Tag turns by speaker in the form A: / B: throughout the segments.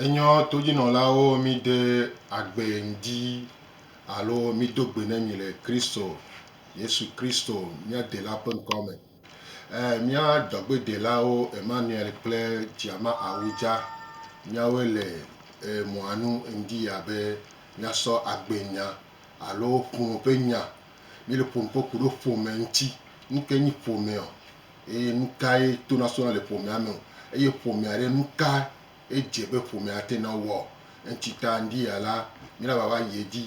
A: Enyɔ todzinɔlawo míde agbe ŋdi alo mído gbe ne mi le Kristo, Yesu Kristo mía Dela ƒe ŋkɔ me. Ɛɛ mía dɔgbedelawo Emmanuel kple Djama Awudja, míawoe le ɛɛ mɔa nu ŋdi ya be míasɔ agbe nya alo ƒome ƒe nya. Míle ƒome ƒe ku ɖo ƒome ŋti. Nuke nyi ƒomeɔ? Eye nukae tonasrɔ̃ le ƒomea me o, eye ƒomea ɖe, nukae edze be ƒomea ate ŋu awɔ o? Eŋti ta ŋdi ya la, mila va va yi edzi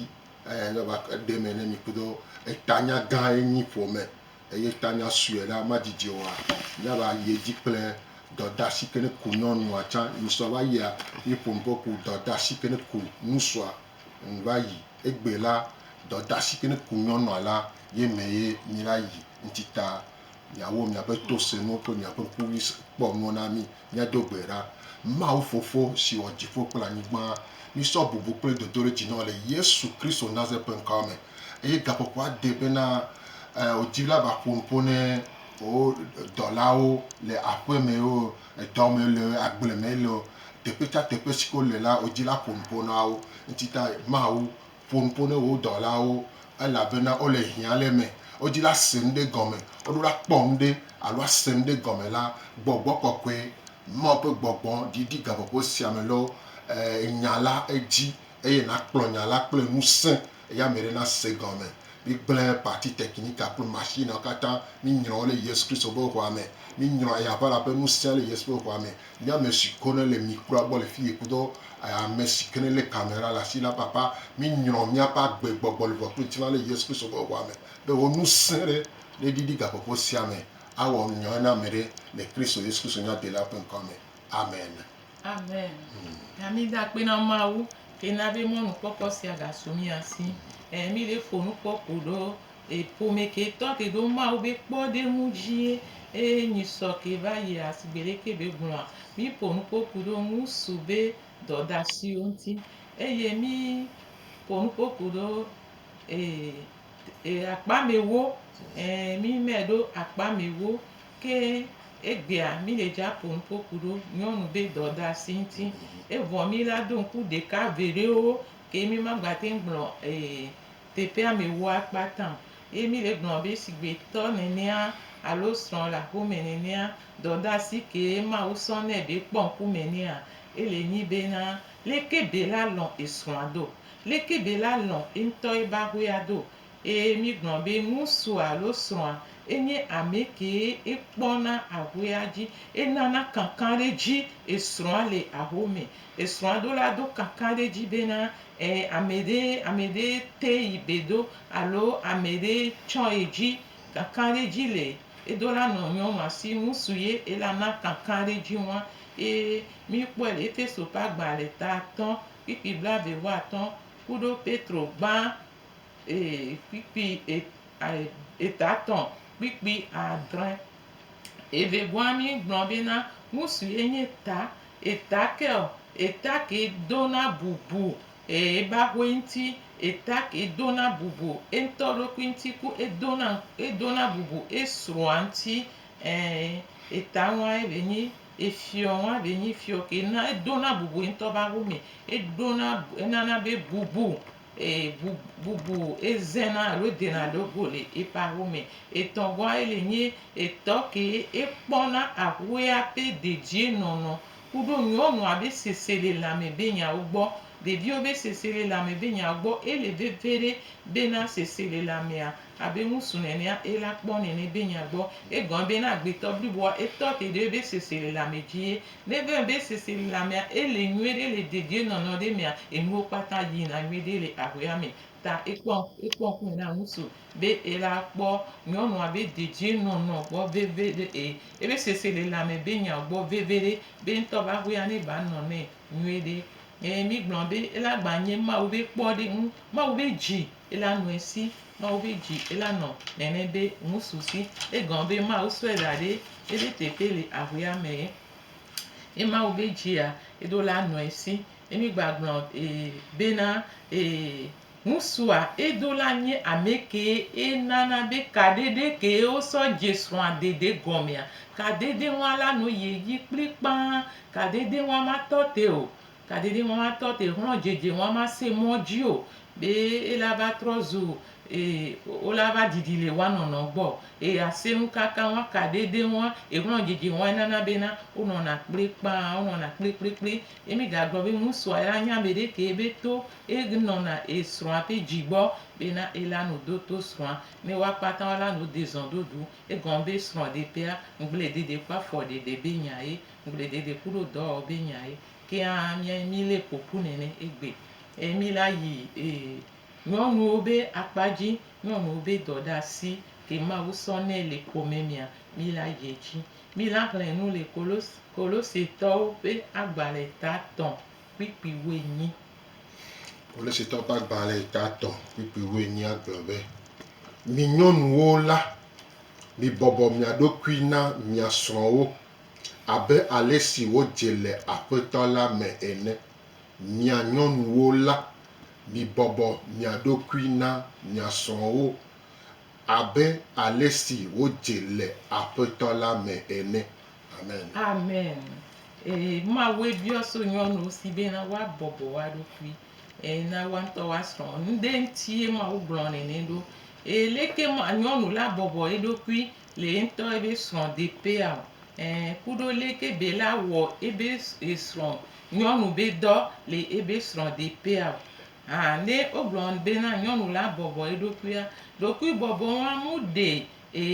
A: eye mava ɖe eme ne mi kpɔtɔ. Etanya gã ye nyi ƒome eye etanya sue la madidi oa? Mila yi edzi kple dɔdasi ke ne ku nyɔnua tsã. Ŋusua va yia eye ƒomeƒe ku dɔdasi ke ne ku ŋusua ŋu va yi. Egbe la, dɔdasi ke ne ku nyɔnua la ye me ye mila yi. Ŋti ta. Miawo miaƒe to se nuwo kple miaƒe ŋkuvi kpɔ nuwo na mí. Míado gbe ɖa, Mawu Fofo, si wɔ dziƒo kple anyigba, mísɔ bubu kple dodoɖedzi na wò le Yesu Kristo Nazaret ƒe ŋkɔa me. Eye gaƒoƒo ade bena, Ẽ, wò dziɖula va ƒo nu ƒo ne wò dɔlawo le aƒe me eo, edɔ me le eo, agble me le eo, teƒe sia teƒe si ke wole la, wò dzila ƒo nu ƒo na wo. Ŋutitae, Mawu, Ƒo nu ƒo ne wò dɔlawo, elabena wole hiã le eme. Wodi la se nu ɖe gɔme. Woɖo la kpɔ nu ɖe alo ase nu ɖe gɔme la, gbɔgbɔ kɔkɔe, Mawu ƒe gbɔgbɔ, ɖiɖi gaƒoƒo sia me lɔ nya la edzi eye nakplɔ nya la kple ŋusẽ eye ame aɖe nase egɔme. Migblẽ pati tekinika kple mashiniawo katã. Minyrɔ wo le Yesu Kristo ƒe ʋɔa me. Minyrɔ eya ʋala ƒe ŋusẽa le Yesu ƒe ʋɔa me. Nye ame si ko ne le mi kura gbɔ le fiye kpɔtɔ ame si ke ne le kamera le asi la papa mi nyrɔ miaƒe agbe gbɔgbɔ le ʋɔtru ŋtilã le Yesu Kristo ƒe ʋɔa me be wò ŋusẽ ɖe ne ɖiɖi gaƒoƒo sia me awɔ nyɔe na ame ɖe le Kristo Yesu Kristo nyadela ƒe ŋkɔa me amen. Amen. Na
B: mi da akpe na Mawu ke na be mɔnukpɔkpɔ sia ga su mia si. Ɛɛ, mi ɖe fonu kpɔ ko ɖo. Ƒome ke tɔ ke ɖo Mawu be kpɔɖeŋu dzie eye nyi sɔ ke va yia si gbeɖe ke be gblɔa. Mí ƒo nu kpoku ɖo ŋusu be dɔdasiwo ŋuti eye mí ƒo nu kpoku ɖo ee akpa mɛwo e mí mɛ ɖo akpa mɛwo ke egbea mí le dza ƒo nu kpoku ɖo nyɔnu be dɔdasi ŋuti. Evɔ mí la ɖo ŋku ɖeka veɖewo ke mí ma gba te ŋu gblɔ ee Teƒea mewɔa kpata o. Ye mi le gblɔ be shigbe tɔ nenea alo srɔ̃ le aƒe me nenea, dɔdeasi kee Mawu sɔ nɛ be kpɔ ŋku me nɛa? Ele nyi bena, leke Bella lɔ̃ esrɔ̃a do? Leke Bella lɔ̃ eŋutɔ ebe aƒea do? Ee, mi gblɔ be ŋursua alo srɔ̃a enye ame kee ekpɔna aƒea dzi, enana kankanɖedzi esrɔ̃a le aƒe me. Esrɔ̃a ɖo la do kankan ɖe edzi bena, E, ame ɖe, ame ɖe te yi be do alo ame ɖe tsɔ ye dzi. Kankan ɖe edzi le edo la nɔ nyɔnua si ŋu su ye ela na kankan ɖe edzi ŋua. Ye mi kpɔe le Efeso ƒe agba le ta atɔ kpikpi blave wu atɔ kuɖo Petro gbã e, kpikpi e, a, eta tɔ kpikpi adre. Eve gɔa mi gblɔ be na ŋusu ye nye ta, eta ke ɔ, eta ke do na bubu e eba hoe ŋti, eta ke do na bubu eŋtɔ ɖokui ŋti ku edo na edo na bubu esrɔa ŋti e eta ŋua ye be nyi efiɔ ŋua be nyi fiɔ ke na edo na bubu eŋtɔ be awu me, eɖo na enana be bubu Ee, bu, bubu ezena alo dena ɖo go le eƒe aho me. Etɔ̃ gɔ̃ aye le nye etɔ ke ekpɔna ahoea ƒe dedienɔnɔ kuɖo nyɔnua be seselelãme be nyawo gbɔ, ɖeviwo be seselelãme be nyawo gbɔ. Ele veviɖe bena seselelãmea abe ŋusu nenea ela kpɔ nene be nya gbɔ. Egɔ̃e bena agbetɔ bliboa etɔ te ɖe ebe seselelãme dzi ye Ne vem be sese le amea, ele nyuie ɖe le dedie nɔnɔ ɖe mea, enuwo kpata yi na nyuie ɖe le aʋea me. Ta ekpɔ, ekpɔ ŋku na ŋutsu be ela kpɔ nyɔnua be dedie nɔnɔ gbɔ veve ɖe e, ebe sese le le ame be nya gbɔ veve ɖe, be ŋutɔ be aʋea ne gba nɔ nɛ nyuie ɖe. E mi gblɔ be ela gba nye Mawu be kpɔ ɖe ŋu, Mawu be dzi. Ela nɔe si Mawu be dzi ela nɔ nɛnɛ be ŋusu si egɔn be Mawu sɔe da ɖe ebe teƒe le ahuea me ye. E Mawu be dzia eɖo la nɔe si emi gbagblɔ e bena e ŋusua eɖo la nye ame kee e nana be kaɖeɖe kee wo sɔ dze srɔ̃a dede gɔmea kaɖeɖe ŋua la no ye yi kplikpaa kaɖeɖe ŋua ma tɔ te o Kaɖiɖi ŋɔ ma tɔ te xlɔ djedje ŋɔ ma se mɔ dji o be ela va trɔ zu ee o la va ɖiɖi le wa nɔnɔ gbɔ ee a se nu kaka ŋɔ ka ɖe ɖe ŋɔ e xlɔ djedje ŋɔ ena na be na o nɔ na kple kpaa o nɔ na kple kple kple ye mi ga gblɔ be ŋu sua ela nya meɖe ke be to e nɔ na e srɔa ƒe dji gbɔ be na ela no do to srɔa ne wa kpata ŋɔ la no de zɔn ɖoɖu egɔn be srɔ ɖe ƒea ŋgble ɖeɖe kpɔ afɔ ɖeɖe be nya ye. Gble dede kuɖo dɔ ɔ be nya ye keŋ a mia ye mi le ƒoƒu nɛnɛ egbe e mi la yi e nyɔnuwo be akpadji nyɔnuwo be dɔ ɖasi ke mawu sɔ nɛ le xome mia mi la yi edji. Mi la xlɛ enu le kolos kolosetɔwo ƒe agbalɛ ta tɔ kpikpi woenyi.
A: Kolosetɔwo ƒe agbalɛ ta tɔ kpikpi woenyi a gblɔ be, Mi nyɔnuwo la, mi bɔbɔ mia ɖokui na mia srɔwo abe ale si wodze le Aƒetɔ la me ene. Mia nyɔnuwo la, mibɔbɔ mia ɖokui na mia srɔ̃wo abe ale si wodze le Aƒetɔ la me ene. Amen. Amen.
B: Ee, Mawue biɔ so nyɔnuwo si bena woabɔbɔ woa ɖokui ee, na woa ŋutɔ woa srɔ̃wo. Nuɖe ŋutie Mawu gblɔ nɛ nɛ ɖo? Ee, leke ma, nyɔnu la bɔbɔ eɖokui Le yentɔ ebe srɔ̃ de pea o ɛ kuɖo le ke be la wɔ ebe esrɔ̃ nyɔnu be dɔ le ebe srɔ̃ de pea o. Hã ne wogblɔ be na nyɔnu la bɔbɔ eɖokuia, ɖokui bɔbɔ wa mu ɖe e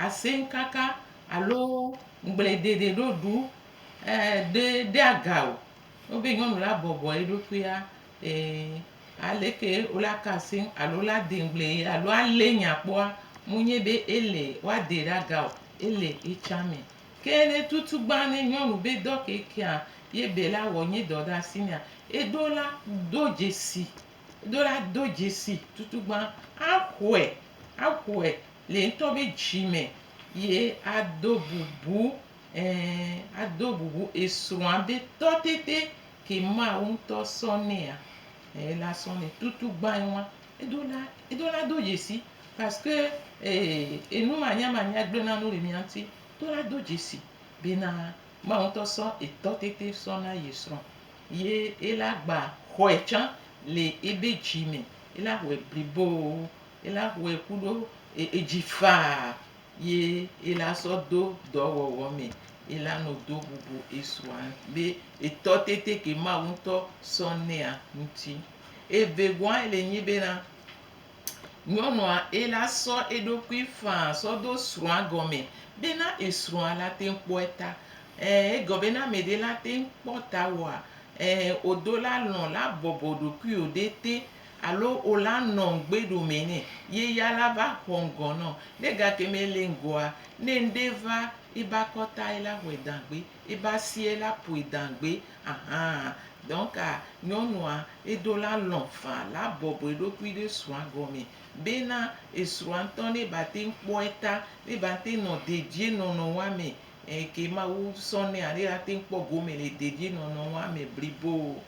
B: asɛnkaka alo ŋgbledede ɖoɖu e ɖe ɖe aga o. Wobe nyɔnu la bɔbɔ eɖokuia. Ee, aleke wola ka asi ŋu alo wola dee ŋugble alo alee nya kpɔa, munye be ele woadee ɖe aga o, ele etsã me. Ke ne tutu gbã ne nyɔnu be dɔ ke kea, ye be la wɔ nye dɔ ɖe asi nɛa, eɖo la do dzesi, eɖo la do dzesi tutu gbã axɔe, axɔe le ŋutɔ be dzi me ye ado bubu, ɛɛ, ado bubu esrɔ̃a be tɔtete Ke Mawu ŋutɔ sɔ nɛa? Eee, la sɔ nɛ. Tutu gbãe wa, edo la, edo la do dzesi parce que ee, enu manya manya gblẽ na nu le mia ŋuti. Edo la do dzesi bena Mawu ŋutɔ sɔ etɔ tete sɔ na ye srɔ̃. Ye ela gba xɔe tsã le ebe dzi me. Ela xɔe bliboo. Ela xɔe kuɖo edzi faa. yi i la sɔ do dɔ wɔwɔ mɛ i la nɔ do bubu i sua be i tɔ tete ke Mawu ŋutɔ sɔ nɛa ŋuti. Evegɔa i le nyi be na, nyɔnua i la sɔ eɖokui faa sɔ do srɔa gɔmɛ be na i srɔa la teŋ kpɔɛ ta. Ɛ, egɔ be na ameɖe la teŋ kpɔ ta woa, ɛ, odo la lɔ̃ la bɔbɔ ɖokuiwo ɖe te. Alo o la nɔ ŋgbe ɖo mɛ nɛ, ye ya la va xɔ ŋgɔ nɔ. Nɛ gake mɛ le ŋgɔa, nɛ ŋɖe va e ba kɔta e la hɔɛ dangbe, e ba sie e la poe dangbe ahan. Donc a nyɔnua e do la lɔ fa la bɔbɔ eɖokui ɖe srɔa gɔmɛ be na esrɔa ŋtɔ nɛ ba te ŋ kpɔ eta, nɛ ba ŋte nɔ dedie nɔnɔ wa mɛ ɛɛ ke Mawu sɔ nɛa, nɛ la te ŋ kpɔ gome le dedie nɔnɔ wa mɛ blibo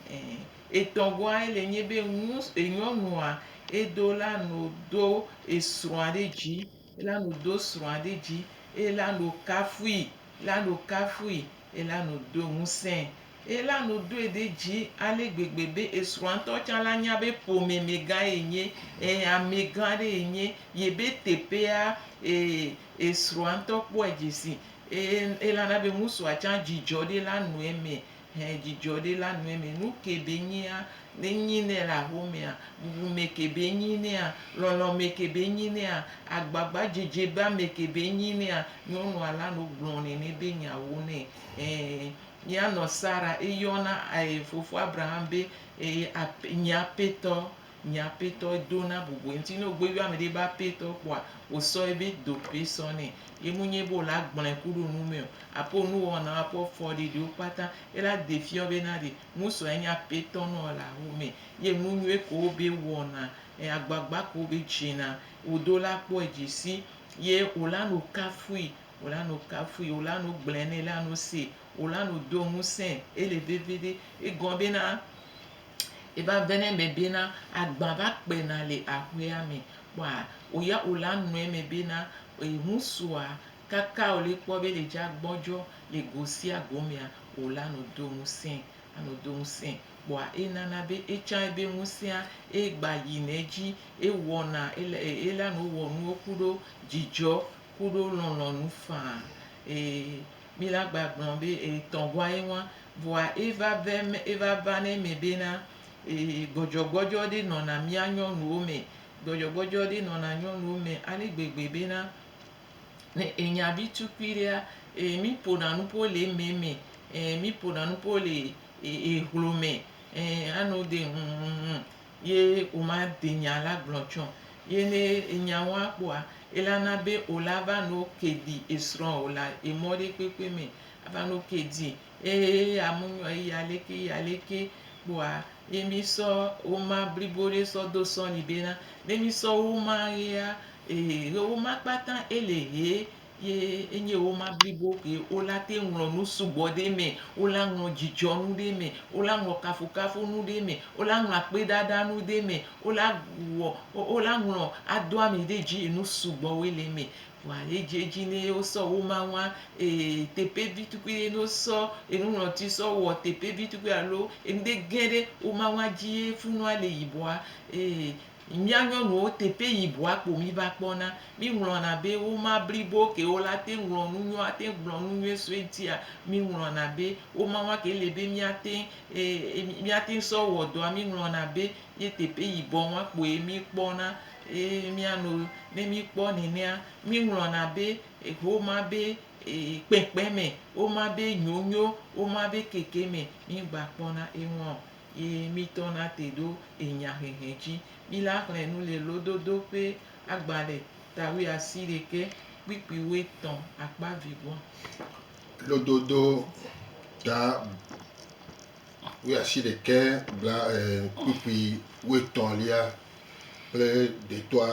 B: ɛɛ. Etɔ̃gɔae le nye be nu enyɔnua edo la no do esrɔ̃a ɖe dzi, ela no do srɔ̃a ɖe dzi, ela no kafui, ela no kafui, ela no do ŋusẽ, ela no doe ɖe dzi ale gbegbe be esrɔ̃a ŋutɔ tsã la nya be ƒome me gã ye nye, e ame gã ɖe ye nye, yebe teƒea e esrɔ̃a ŋutɔ kpɔe dzi si. E elana be ŋusua tsã dzidzɔ ɖe la nɔ eme Hẽ djidjɔ ɖi la nue mɛ nu ke be nyia ne nyi nɛ la ho mea bubu mɛ ke be nyi nɛa lɔlɔ mɛ ke be nyi nɛa agbagba djedje ba mɛ ke be nyi nɛa nyɔnua la no gblɔ nɛ nɛ be nya wo nɛ ɛɛ mia nɔ sara eyɔna ɛɛ fofo abraham be ɛɛ ap nyi apetɔ. Nye apɛtɔ do na bobɔe ŋti ne ogbe yɔ amɛɖe be apɛtɔ kpoa osɔ ebe dope sɔ nɛ ye mu nye be ola gblɔɛ kuɖo nu mɛ o apo onuwɔwɔ nao apo efɔ ɖeɖewo kpata ye la de fiɔ be na ɖe musɔ enye apɛtɔ nɔo le axo mɛ ye enu nyuie kewo be wɔna e agbagba kewo be dzena odo la kpɔe dzi si ye ola no kafui ola no kafui ola no gblɔɛ nɛ la no se ola no do ŋusɛ ele vevi ɖe egɔ be na Eva vɛnɛ mɛ be na agba va kpe na le aƒea me. Kpɔa o ya o la nɔɛ mɛ be na eŋu sua kaka o le kpɔ be le dza gbɔdjɔ le go sia go mea o la nɔ do ŋusẽ a nɔ do ŋusẽ. Kpɔa e nana be etsã ebe ŋusẽa e gba yi nɛ dji e wɔna e la nɔ wɔ nuwo kuɖo djidjɔ kuɖo lɔlɔnu faa e. Mi la gba gblɔ be e tɔn gua ye ŋua, vɔa e va vɛ me, e va va ne me be na e gbɔdjɔ gbɔdjɔ ɖe nɔna mia nyɔnuwo me, gbɔdjɔ gbɔdjɔ ɖe nɔna nyɔnuwo me ale gbegbe be na ne e nya vi tukui ɖea e mi ƒona nuƒo le eme me e mi ƒona nuƒo le e hlome e ano de ŋŋŋŋ. Ye woma de nya la gblɔ tsɔ. Ye ne enya woa kpɔa, ela na be o la va no ke di esrɔ o la emɔ ɖe kpekpe me. Ava no ke di eye eya mu nyɔ eya leke eya leke kpɔa ye mi sɔ woma blibo ɖe sɔ do sɔ ni be na ne mi sɔ woma ɣea, ehe ɣewoma kpata ele he Ye enye woma blibo ke wola te ŋlɔ nu sugbɔ ɖe eme, wola ŋlɔ dzidzɔnu ɖe eme, wola ŋlɔ kafukafunu ɖe eme, wola ŋlɔ akpeɖaɖanu ɖe eme, wola wɔ, wola ŋlɔ ado ami ɖe dzi enu sugbɔwoe le eme. Vɔa edze edzi ne wosɔ woma ŋua, e teƒe vi tukui ɖe ne wosɔ enuŋlɔti sɔ wɔ teƒe vi tukui alo enu ɖe gẽ ɖe woma ŋua dzi ye funua le yibɔa, e Mía nyɔnuwo teƒe yi bua kpo mí va kpɔ na. Mí ŋlɔna be wo ma blibo ke wo la te ŋlɔ nu nyuie ate gblɔ nu nyuie so eŋtia, mí ŋlɔna be wo ma wa ke le be mía te mía te sɔ wɔ dɔa mí ŋlɔna be ye teƒe yi bɔ wa kpoe mí kpɔ na. Eye mía no ne mí kpɔ nenea, mí ŋlɔna be wo ma be kpekpe me, wo ma be nyonyo, wo ma be keke me mí gba kpɔ na eŋua o. yi mi tɔ na te ɖo enya hehe dji. Mi la xlẽ nu le lododo ƒe agba ɖe ta wuiasi ɖekɛ kpikpi wuietɔ akpa vivua.
A: Lododo ta wuiasi ɖekɛ bla kpikpi wuietɔ lia kple ɖetɔa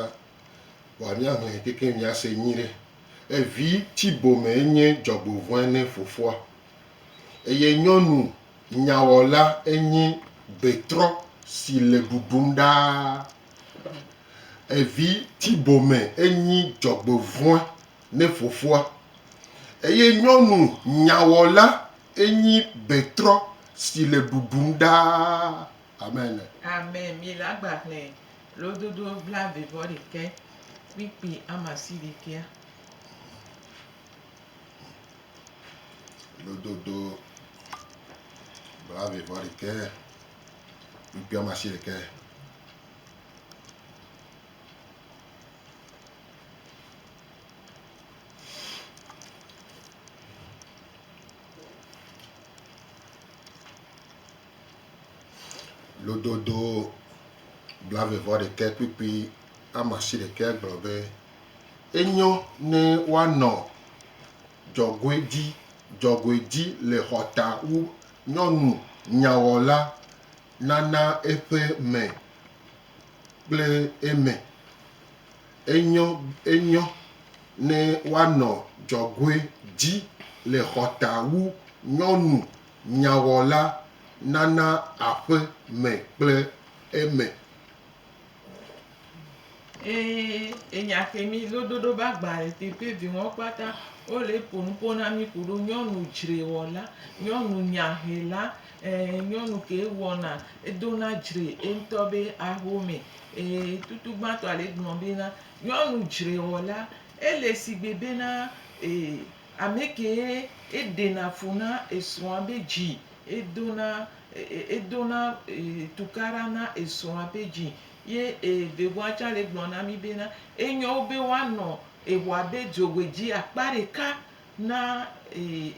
A: wa mi axlẽ keke mi ase nyi ɖe. Evi tsi bome enye dzɔgbovɔe ne fofoa. Eye nyɔnu Nyawɔla enyi betrɔ si le ɖuɖum ɖaa. Evi tibome enyi dzɔgbevɔ̃e ne fofoa. Eye nyɔnu nyawɔla enyi betrɔ si le ɖuɖum ɖaa. Amen. Amen. Mi le
B: agba xlẽ lododo blaevevɔɖekɛ kpikpi amasiɖekɛa.
A: lododo blaeve vɔ ɖekɛ kpukpui woame asi ɖekɛ. Lododo blaeve vɔ ɖekɛ kpukpui woame asi ɖekɛ gblɔ be. Enyo ne woanɔ dzɔgoedzi dzɔgoedzi le xɔta wu nyɔnu nyawɔla nana eƒe me kple eme. Enyo enyo ne woanɔ dzɔgoe dzi le xɔta wu nyɔnu nyawɔla nana aƒe me kple eme.
B: Eye enya ke mi lo doɖo be agbalẽ teƒe viwo kpata wole ƒo nu ƒo na mi ku ɖo nyɔnu dzrewɔla, nyɔnu nyahela, ee nyɔnu ke wɔna edo na dzre eŋutɔ be ahome. Ee tutu gbãtɔ le gblɔ be na nyɔnu dzrewɔla ele sigbe be na ee. Amekee eɖena fu na esrɔ̃a be dzi, edona edona tukaɖa na esrɔ̃a be dzi. Ye evegoa tsã le gblɔ na mí bena, enyo wu be woanɔ eŋua be dzogbedzi akpa ɖeka na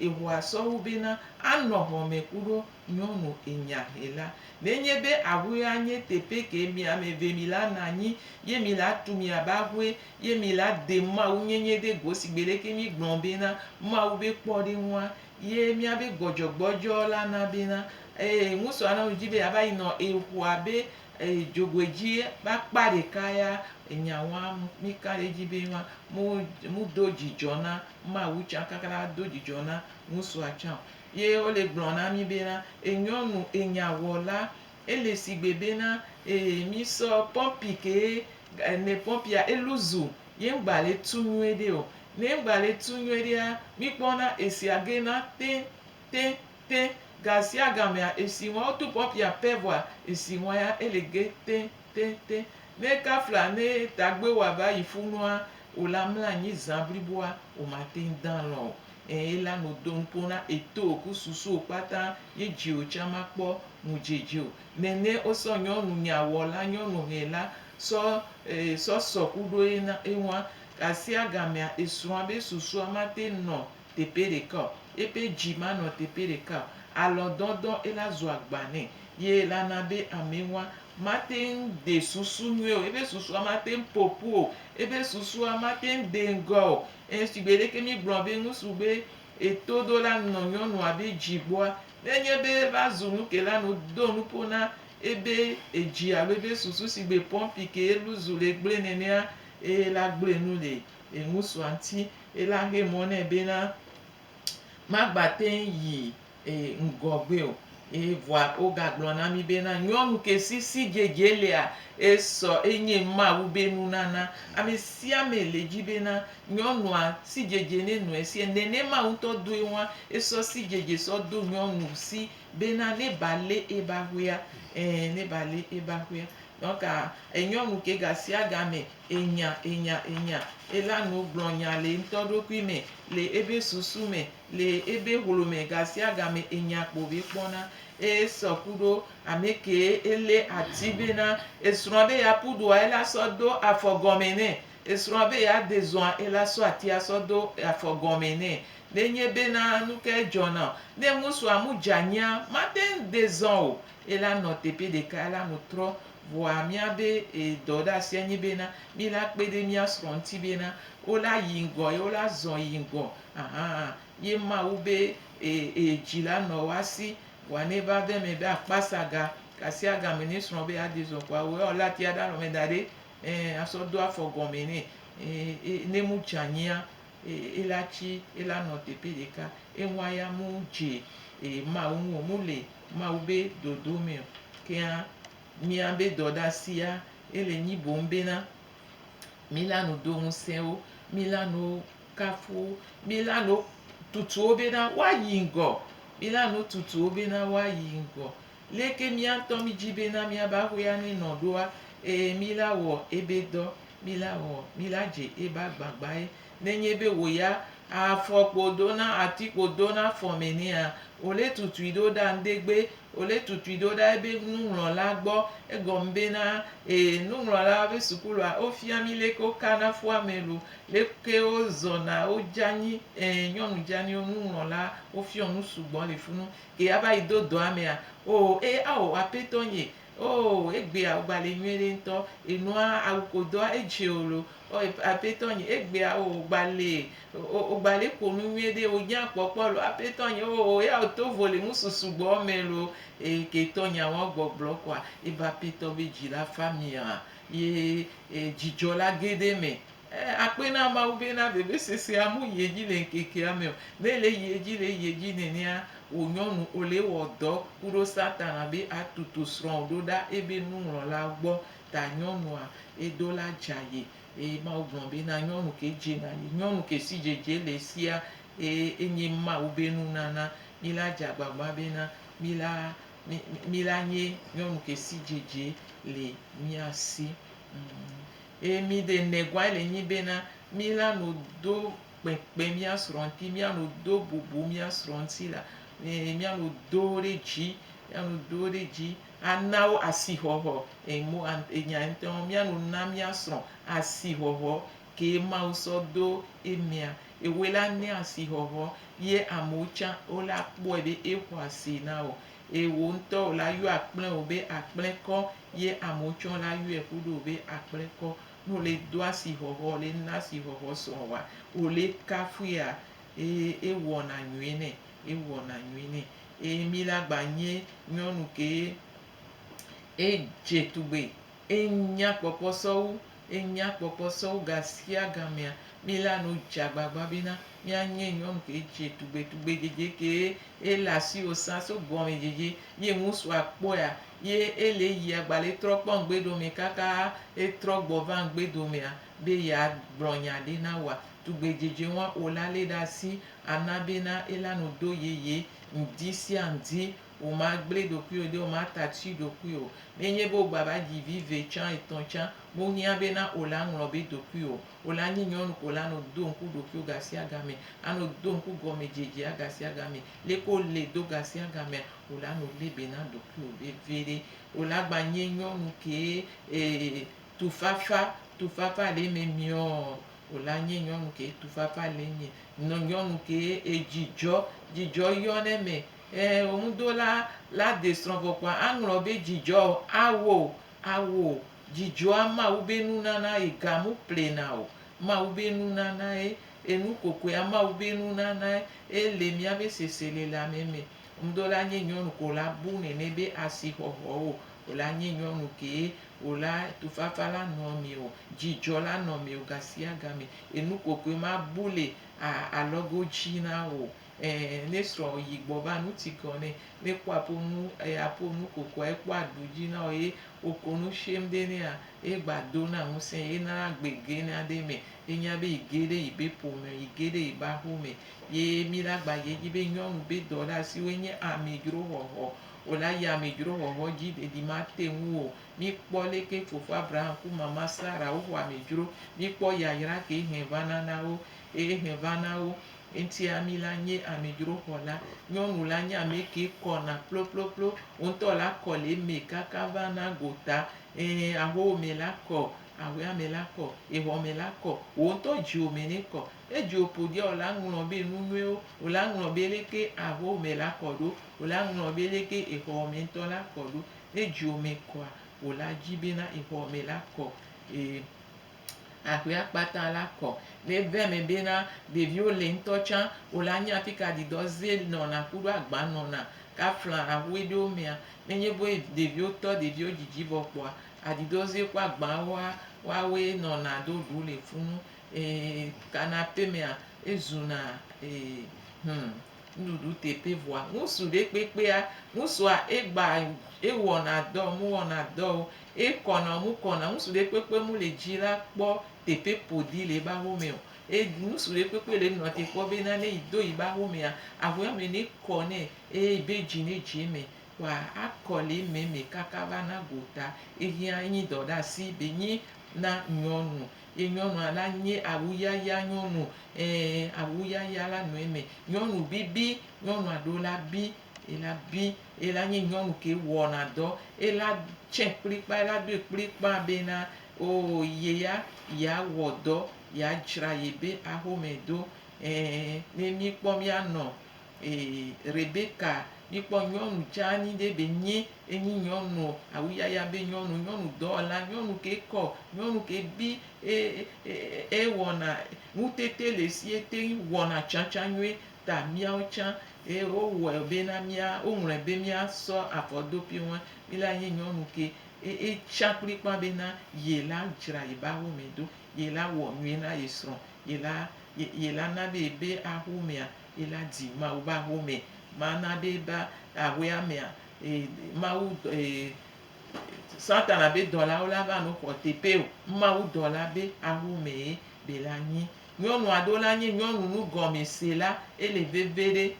B: eŋua sɔwu bena anɔ hɔme kuɖo nyɔnu enyahela. Nenye be aƒea nye teƒe ke mi ame eve mi la na anyi ye mi la tu miabe aƒe Ye mi la de Mawu nyenye ɖe go si gbe leke mi gblɔ bena Mawu be kpɔɖeŋua ye mia be gbɔdzɔgbɔdzɔ la na bena ee ŋusɔ ana nu dzi be ya va yi nɔ ee ƒoa be ee dzogoe dzi be akpa ɖeka ya enya wa mi ka ɖe dzi be ma mu mu do dzidzɔ na Mawu tsa kaka la do dzidzɔ na ŋusɔa tsa o. Ye wo le gblɔ na mi bena ee nyɔnu ee nya wɔ la Ele sigbe bena ee mi sɔ pɔmpi ke e ne pɔmpia elu zu ye ŋgba le tu nyuie ɖe o. Ne ŋgba le tu nyuie ɖea, mi kpɔna esia ge na te te te gasiagamea esi ŋua wotu pɔmpia pɛ vɔa esi ŋua ya ele ge te te te. Ne kafla ne tagbe wa va yi funua o la mla anyi zã bliboa o ma te ŋ dã lɔ o. Eyi la nu dom koŋ na etowo ku susuwo kpata yi dziwo tsa ma kpɔ nu djidjio. Nɛnɛ wo sɔ nyɔnu nya wɔ la nyɔnu hɛ la sɔ ee sɔ sɔ ku ɖo ye na ewa. Kasia gamea esrɔa be susua ma te nɔ tepe ɖeka o. Epe dji ma nɔ tepe ɖeka o. Alɔ dɔdɔ ela zu agba nɛ. Ye ela na be ame wa ma teŋ de susu nyuie o. Ebe susua ma teŋ popu o. Ebe susua ma teŋ de ŋgɔ o. Eye shigbe leke míegblɔa be ŋutsu be etoɖola nɔ nyɔnua be dzi gbɔa, ne enye be eva zu nu ke la, do nuƒo na ebe edzi alo ebe susu shigbe pɔmpi ke elu zu le gblẽ nenea, eye la gblẽ nu le eŋutsua ŋuti, eye la xe mɔ nɛ bena magbate yi e, ŋgɔgbe o. Eye vɔa wogagblɔ na mí bena, nyɔnu ke si sidzedze lea, esɔ enye Mawu be nunana. Amesiame le dzi bena nyɔnua sidzedze ne nɔe sie, nenema ŋutɔ doe ŋua, esɔ sidzedze sɔ do nyɔnu si bena ne ba le ebe aƒea, ẽ, ne ba le ebe aƒea. Donc, e, nyɔnu ke gasiagame enya, enya, enya ela nu gblɔ nya le eŋutɔ ɖokui me, le ebe susu me, Le ebe hlo mɛ gasiagame enya kpo be kpɔna eye sɔ kuɖo amɛkee elé ati be na esrɔa be ya pu ɖoa ela sɔ do afɔ gɔmɛ nɛ esrɔa be ya de zɔa ela sɔ atia sɔ do afɔ gɔmɛ nɛ ne nye be na nuke edzɔ nao ne ŋusua mu dza nyia mateŋ de zɔ o ela nɔ teƒe ɖeka ela nu trɔ vɔa mia be dɔ ɖe asia nyi be na mi la kpe ɖe mia srɔ ŋti be na wo la yi ŋgɔ ye wo la zɔ yi ŋgɔ Ahan ye Mawu be e e dzi la nɔ wa si wa ne va ve me be akpa sa ga ka sia ga me ne srɔ̃ be ade zɔ kua wo ɔ lati aɖa lɔ me da ɖe e asɔ do afɔ gɔme ne e e ne mu dza nyia e e la tsi e la nɔ teƒe ɖeka e ŋua ya mu dze e Mawu ŋu o mu le Mawu be dodo me o kea mia be dɔ ɖa sia e le nyi boŋ be na mi la nu do ŋusẽ wo mi la nu Kafu mi la no tutu wo bena woayi ŋgɔ. Mi la no tutu wo bena woayi ŋgɔ. Leke mía ŋutɔ mídi bena míabe aƒea nenɔ ɖoa? Ɛ̃, mi la wɔ ebe dɔ. Mi la wɔ, mi la dze ebe agbagbae. Nenye be wò ya afɔ kpo do na ati kpo do na afɔ me nɛa, wò le tutui ɖo ɖa ŋdegbe. Wò le tutui ɖo ɖa ebe nuŋlɔla gbɔ. Egɔme bena, ɛ̃, nuŋlɔlawo be sukulua wofia mi leke wokana ƒua me lo. Leke wozɔna, wodze anyi, ẽ, nyɔnu dzeaniwo, nuŋlɔla, wofiɔ nu sugbɔ li funu. Ke ava yi do dɔa mea, oo, e, ao, Apetɔ nye, oo, egbea wogba le nyuiɖe ŋutɔ, enua awu ko doa edzi o lo, o, e, Apetɔ nye, egbea, oo, wogba le, o, wogba le ƒo nu nyuiɖe, wonye akpɔkpɔ lo, Apetɔ nye, oo, e ao to vo le ŋusu sugbɔ me lo, e, ke tɔ nyea woagbɔgblɔ kɔa, e, be Apetɔ be dzi la fa mia? Ye dzidzɔ la ge ɖe eme. Akpe na Mawu be na vevesesea mu yi edzi le ŋkekea me o. Ne ele yi edzi le yi edzi nenea, wò nyɔnu Ole wɔ dɔ ku ɖo Satana be atutu srɔ̃wò ɖo ɖa ebe nuŋlɔla gbɔ ta nyɔnua edo la dza ye. Eye Mawu gblɔ be na nyɔnu ke dze na ye. Nyɔnu ke si dzedze le esia enye Mawu be nunana. Mila dze agbagba be na mila Mi la nye nyɔnu ke si dzedze le mia si. Eye mi de nɛgua le nyi bena, mi la no do kpekpe mia srɔ̃ ŋti, mia no do bubu mia srɔ̃ ŋti la, e mia no do wo ɖe dzi, mia no do wo ɖe dzi ana wo asixɔxɔ, e mo an e nya ŋtɔɔ, mia no na mia srɔ̃ asixɔxɔ kee Mawu sɔ do emea, ewoe la nɛ asixɔxɔ ye amewo tsã wole akpɔe be exɔ asi na wò. Eye wò ŋutɔ wò la yɔ akplɛ wò be akplɛ kɔ ye amewo tsã wole ayɔe ƒu ɖe wò be akplɛ kɔ. Ne wole do asixɔxɔ, wole na asixɔxɔ sɔ woa, wole kafuia eye ewɔna nyuie nɛ, ewɔna nyuie nɛ. Eye mí la gba nye nyɔnu kee edze tugbe Enya kpɔkpɔ sɔwu, enya kpɔkpɔ sɔwu gasiagamea, mí la nu dze agbagba be na mía nye nyɔnu ke dze tugbe tugbe dzedze ke ye le asiwo sã so gɔme dzedze ye ŋusu a kpɔea ye e le yi a gba le trɔ kpɔ ŋgbe dome kaka e trɔ gbɔ va ŋgbe domea be ye a gblɔ nya ɖe na woa. Tugbe dzedze ŋua o la le ɖe asi a na be na e la nu do yeye ŋdi sia ŋdi Womagblẽ ɖokuiwò ɖi o, womata atsi ɖokuiwò o. Ne enye be wògbava dzi vi ve tsã, etɔ̃ tsã, mohiã be na wò la ŋlɔ be ɖokuiwò o. Wò la nyi nyɔnu ko la nɔ do ŋku ɖokuiwò gasiagame, anɔ do ŋku gɔmedzedzea gasiagame. Leke wolée do gasiagamea, wò la nɔ lée be na ɖokuiwò veviɖe. Wò la gba nye nyɔnu kee ee tufafa, tufafa le eme miɔɔ, wò la nye nyɔnu kee tufafa le eme. Nɔ nyɔnu kee ee dzidzɔ, dzidzɔ yɔ ɖe eme. Ẽ, wò ŋudola la de srɔ̃ vɔ kpɔa aŋlɔ be dzidzɔ awo o, awo o. Dzidzɔa Mawu be nunana yi ga mu plena o. Mawu be nunanae, enu kokoea Mawu be nunanae ye le míabe seselelanme me. Ŋudola nye nyɔnu ko wòla bu nɛnɛ be asixɔxɔ o. Wòla nye nyɔnu kee, wòla tufafa la nɔa me o, dzidzɔ la nɔ me o gasiagame. Enu kokoe ma bu le a alɔgo dzi na wò o. Ẽ, ne srɔ̃wò yi gbɔ va nu tsi keɔ nɛ, ne kpɔa ƒo nu eya ƒo nu kokoa ekpɔ aɖu dzi nao ye woko nu shem ɖe nɛa, ye gba do na ŋusẽ ye na agbe ge na ɖe me ye nya be yi ge ɖe yi be ƒome yi ge ɖe yi be axo me. Ye mi la gba yi edzi be nyɔnu be dɔɖasiwoe nye amedzro xɔxɔ o la yi amedzro xɔxɔ dzi ɖeɖi ma te ŋu o. Mi kpɔ leke fofo Abraham ku mama Sara wo xɔ amedzro, mi kpɔ yayra ke hɛn va na na wo, ye hɛn va na wo. Eŋti ami la nye amidro xɔ la. Nyɔnu la nye ame ke kɔna ploploplo. Wo ŋutɔ la kɔ le eme kaka va na gota. Ẽ, ahowo me la kɔ, aʋea me la kɔ, exɔ me la kɔ, wò ŋutɔ dziwò me ne kɔ. Ne dziwò ƒo ɖia, wò la ŋlɔ be nu nyuiwo. Wò la ŋlɔ be leke ahowo me la kɔ ɖo. Wò la ŋlɔ be leke exɔwò me ŋutɔ la kɔ ɖo. Ne dziwò me kɔa, wò la dzi bena exɔwò me la kɔ. E. Aƒea kpata la kɔ. Ne eve me be na ɖeviwo le ŋutɔ tsã, wo la nya fika didɔ ze nɔna kuɖo agba nɔna ka fla aƒe ɖewo mea. Ne nye be ɖeviwo tɔ ɖeviwo dzidzi vɔ kpɔa, adidɔ ze ku agba woa, woa woe nɔna ɖo ɖu le funu. Ee, kana aƒe mea, ezuna ee, hum. nuɖuɖu teƒe vɔa ŋusu ɖe kpekpea ŋusua egba ewɔna dɔ mu wɔna dɔwo ekɔna mu kɔna ŋusu ɖe kpekpe mu le dzi la kpɔ teƒe ƒoɖi le eƒe aƒe me o e ŋusu ɖe kpekpe le nɔ te kpɔ be na ne yi do yi be aƒe mea aƒea me ne kɔ nɛ eye yi be dzi ne dzi eme kɔa akɔ le eme me kaka va na gota eyi anyi dɔ ɖe asi be nyi na nyɔnu. Ye nyɔnua la nye awuyaya nyɔnu. Ẽ, awuyaya la nɔ eme. Nyɔnu bibi, nyɔnua ɖo la bi, ela bi. Ela nye nyɔnu ke wɔna dɔ. Ela tsɛ kplikpaa, ela ɖoe kplikpaa bena oo ye ya yeawɔ dɔ, yeadzra yebe axome ɖo. Ẽ, ne míkpɔ míanɔ. Ee, Rebeka, míkpɔ nyɔnu dzeani ɖe be nyi enyi nyɔnu awu yaya be nyɔnu, nyɔnu dɔwɔla, nyɔnu ke kɔ, nyɔnu ke bi e, e, e, ewɔna ŋutete le si ete ŋu wɔna tsãtsã nyuie ta míawo tsã e, wowɔe be na mía, woŋlɔe be mía sɔ afɔ do pi ŋu mí la nye nyɔnu ke e, e, tsã kplikpã be na ye la dzra ye be awu me ɖo, ye la wɔ nyuie na ye srɔ̃. yi la, yi, yi la na be ebe axomea, yi la dzi Mawu be axome. Ma na be ebe axoea mea, e, Mawu, e, Satana be dɔlawo la va nɔ xɔ teƒe o. Mawu dɔla be axomee be la nyi. Nyɔnua ɖewo la nye nyɔnu nugɔmesela. Ele veve ɖe,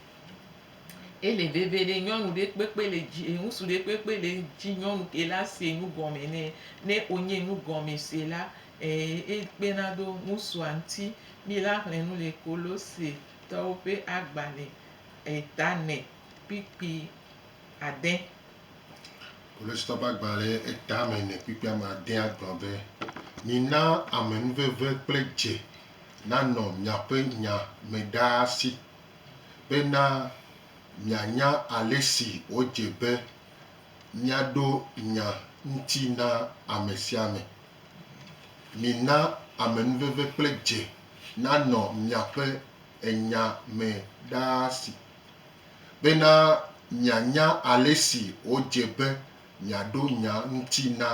B: ele veve ɖe. Nyɔnu ɖe kpekpe le dzi, e, ŋutsu ɖe kpekpe le edzi nyɔnu ke la se nu gɔme nɛ, ne wonye nugɔmesela. Ɛɛ, ye kpena ɖo ŋusua ŋti. Mi la hlɛ nu le Kolose tɔwo ƒe agbalɛ eta mɛ kpikpi adɛ.
A: Kolose tɔwo ƒe agbalɛ eta mɛ nɛ kpikpi ame adɛa gblɔ be, Mina amenuveve kple dze nanɔ miaƒe nya me ɖaa si, bena mianya alesi wòdze be miaɖo nya ŋti na ame sia ame. Mina amenuveve kple dze nanɔ miaƒe enya me ɖaa si bena mianya alesi wòdze be miaɖo nya ŋuti na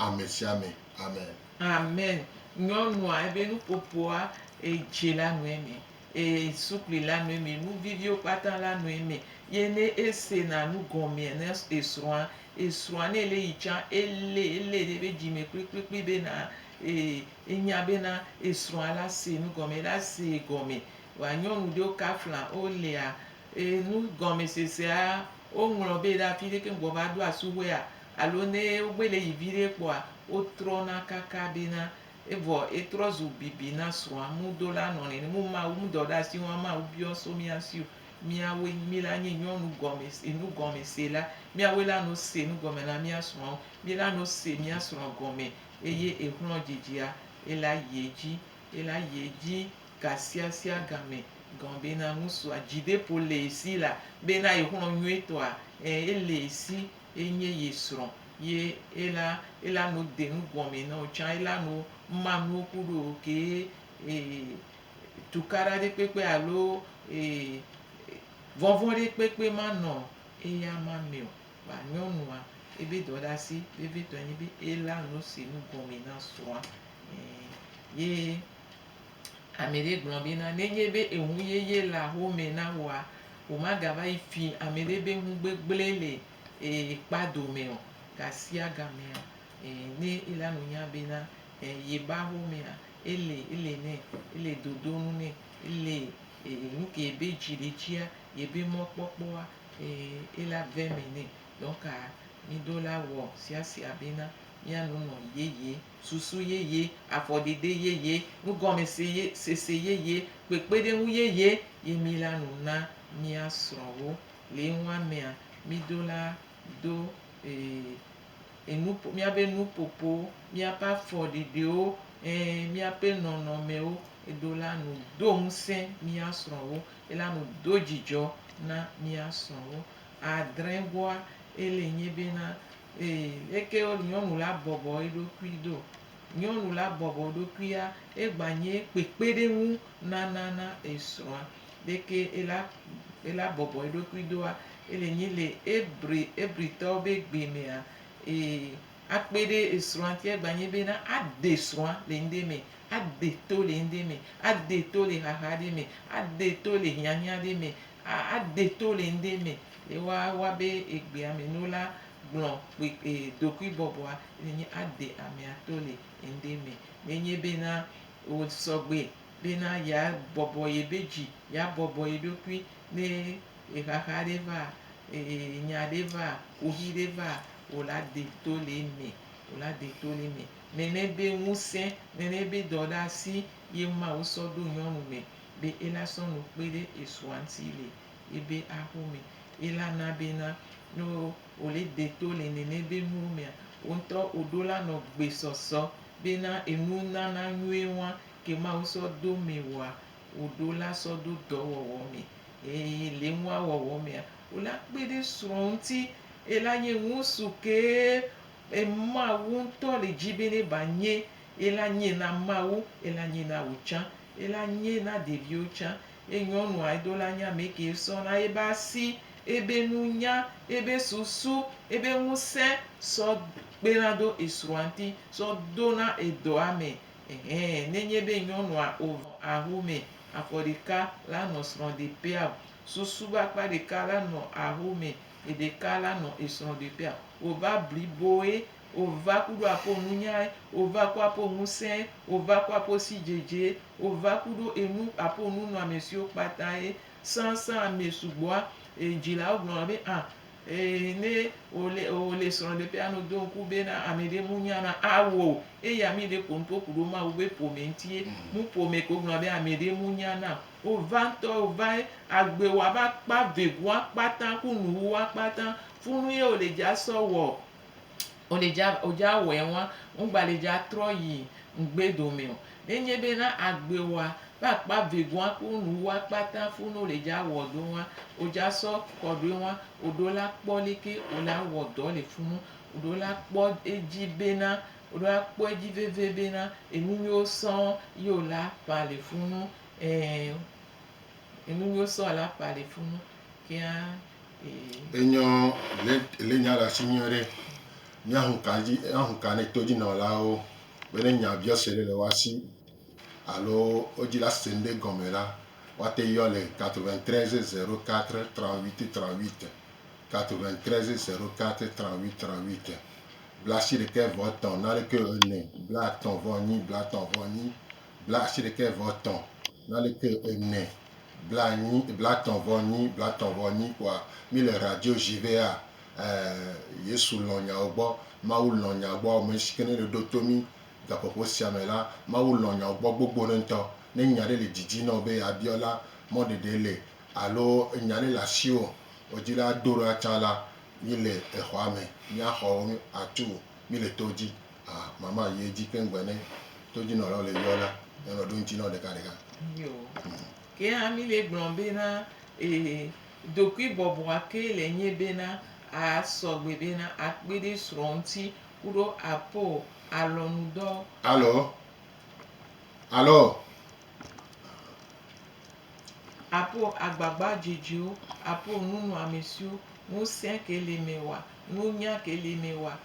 A: ame sia ame. Amen. Amen.
B: Nyɔnua ebe nuƒoƒoa edze la nu eme eye sukli la nu eme, nuviviwo kpata la nu eme. Ye ne esena nu gɔmea na esrɔ̃a, Esrɔ̃a ne ele yi tsã ele ele ɖe eƒe dzi me kplikplikpli be na e enya be na esrɔ̃a la se nu gɔme la se gɔme. Wa nyɔnu ɖewo kafla wo lea e nu gɔme sesea wo ŋlɔ be ɖa afi ɖe keŋ gbɔ va ɖo asu wɛa alo ne wo gbe le yi viɖe kpɔa wo trɔ na kaka be na evɔ etrɔ zu bibi na srɔ̃a mu do la nɔ nene mu ma wu mu dɔ ɖe asi wo ama wu biɔ so mia sio. Míawoe, mí la nye nyɔnu gɔme, si nu gɔme se la, míawoe la no se nu gɔme na mía srɔ̃wo, mí la no se mía srɔ̃ gɔme, eye ehlɔ̃ dzidzia, ela yi edzi, ela yi edzi gasiasia game gɔ̃ bena ŋusua dzideƒo le ye si la, bena yehlɔ̃ nyuietɔa, ẽ, ele ye si, enye ye srɔ̃, ye ela, ela no de nu gɔme na wò tsã, ela no ma nuwo kuɖo wò kee, e, tukaɖaɖi kpekpe alo vɔvɔ̃ɖi kpekpe manɔ eya ma mɛ o. Vɔa nyɔnua ebe dɔɖasi vevitɔe nye be ela nu si nu gɔme na srɔ̃a. Ye ame ɖe gblɔ be na nenye be eŋu yeye le axomɛ na wòa, womagava yi fi ame ɖe be ŋu gbegblẽ le kpa dome o. Gasiagamea, ne ela nu nya be na yebe axomea, Eli, Eli nɛ, Eli dodo nu nɛ, Eli e nuke yebe dzi le dzia, yebe mɔkpɔkpɔa e ela ve me nɛ. Donc a mi ɖo la wɔ siasia bena mia nu nɔ yeye, susu yeye, afɔdede yeye, nugɔmese ye sese yeye, kpekpeɖeŋu yeye ye mi la nu na mia srɔ̃wo. Le eŋua mea, mi ɖo la do ee, enu ƒo, míaƒe nuƒoƒo, míaƒe afɔɖiɖiwo, ẽ, míaƒe nɔnɔmewo, eɖo la nu do ŋusẽ mía srɔ̃wo, ela nu do dzidzɔ na mía srɔ̃wo. Adrẽgoa, ele nye bena, ee, leke nyɔnu la bɔbɔ eɖokui do? Nyɔnu la bɔbɔ eɖokuia egba nye kpekpeɖeŋu nana na esrɔ̃a. Ɖeke ela ela bɔbɔ eɖokui doa ele nyi le Ebre Ebritɔwo be gbe mea e akpe ɖe esrɔ̃a ŋuti egba nye be na ade srɔ̃a le ŋɖe me, ade to le ŋɖe me, ade to le xaxa ɖe me, ade to le hiahiã ɖe me, a ade to le ŋɖe me le woa woa be egbea me no la Gblɔ kpekpe ɖokuibɔbɔa nenye ade amea to le ŋɖe me. Nenye bena wò sɔgbe bena yeabɔbɔ yeɖe dzi, yeabɔbɔ yeɖokui ne ɣexaxa ɖe va, nya ɖe va, kuxi ɖe va, wò la de to le eme, wò la de to le eme. Nene be ŋusẽ, nene be dɔɖeasi ye Mawu sɔ ɖo nyɔnu me be ela sɔ nu kpe ɖe esrɔ̃a ŋuti le ebe axo mɛ ye la na bena no wo le de to le nɛnɛ be nuwo mea, wo ŋtɔ wo ɖo la nɔ gbe sɔsɔ bena enu nana nyuie ŋwa ke Mawu sɔ do mɛ woa, wo ɖo la sɔ do dɔ wɔwɔ mɛ. Eye le nua wɔwɔ mea, wo la kpe ɖe srɔ ŋti ye la nye ŋusu ke Mawu ŋtɔ le dji be ne ba nye ye la nye na Mawu ye la nye na wo tsã ye la nye na ɖeviwo tsã. Ye nyɔnua yi do la nye ame ke sɔ na yebe asi, yebe nunya, yebe susu, yebe ŋusẽ sɔ kpena do esrɔ̃a ŋti sɔ dona edɔa me. Ɛhɛ, ne nye be nyɔnua o aho me afɔ ɖeka la nɔ srɔ̃ ɖeƒea o, susu be akpa ɖeka la nɔ aho me, eɖeka la nɔ esrɔ̃ ɖeƒea o, wova bliboe Ova kuɖo apo nunyae, ova ku apo ŋusẽe, ova ku apo sidzedzee, ova kuɖo enu apo nunɔamesiwo kpata ye sãsã amɛ sugbɔa e dzilawo gblɔna be a e ne wole wole srɔ̃ɖeƒe ano do ŋku be na amɛɖe mu nya na a wò o eye amɛɖe ko nuƒo kuɖo Mawu be ƒome ŋtie. Nu ƒome ko gblɔna be amɛɖe mu nya nam o. Ova ŋtɔ ova ye agbewoa va kpa vegua kpata ku nuwuwua kpata funu ye wole dza sɔ wɔ Ŋ le dza o dza wɛ ŋwa, ŋ gba le dza trɔ yi ŋgbe domɛ o. Ne nye be na agbe wa be akpa vegua ku nu wa kpata fu no le dza wɔ do ŋwa, o dza sɔ kɔɖoe ŋwa, o ɖo la kpɔ leke o la wɔ dɔ le funu. O ɖo la kpɔ edzi be na, o ɖo la kpɔ edzi veve be na enu nyuiwo sɔŋ yi o la ƒã le funu. Ɛɛ, enu nyuiwo sɔŋ o la ƒã le funu.
A: Enyɔ le le nya ɖe asi nyuie ɖe. Míaxɔ ka dzi axɔ ka ne todzinɔlawo be ne nya biɔ se ɖe le woa si alo wo dzi la se nu ɖe gɔme la woate yɔ le 93 04 38 38 93 04 38 38 blaasiɖekɛ vɔ etɔ̃ naneke ene blaatɔ̃ vɔ enyi blaatɔ̃ vɔ enyi blaasiɖekɛvɔetɔ̃ nali ke ene, blaenyi, blatɔ̃vɔenyi, blatɔ̃vɔenyi kpoa mí le radio ʒi be a e Yesu lɔ̃ nyawo gbɔ, Mawu lɔ̃ nya gbɔ. Amɛshi ke ne ɖe ɖo to mí gaƒoƒo sia me la, Mawu lɔ̃ nyawo gbɔ gbogbo ɖe ŋutɔ. Ne nya ɖe le didi nɔ wò be a biɔ la, mɔɖeɖe le alo enya ɖe le asiwò wò dzi la do ɖa tsã la, mí le exɔa me, mía xɔwo a tu, mí le to dzi. A, mama yi edzi keŋ be ne todzinɔlawo le yɔ la, míanɔ ɖo ŋuti na wo ɖekaɖeka. Nyo.
B: Ke hã mí le gblɔ bena, ee, ɖokuibɔbɔa kee le nyi bena a sɔ gbe bena a kpe ɖe srɔ̃ ŋuti kuɖo aƒo alɔnudɔwo. Alo?
A: Alo?
B: Aƒo agbagba dzedzewo, aƒo nunɔamesiwo, ŋusẽ ke le mɛ wa, nunya ke le mɛ wa,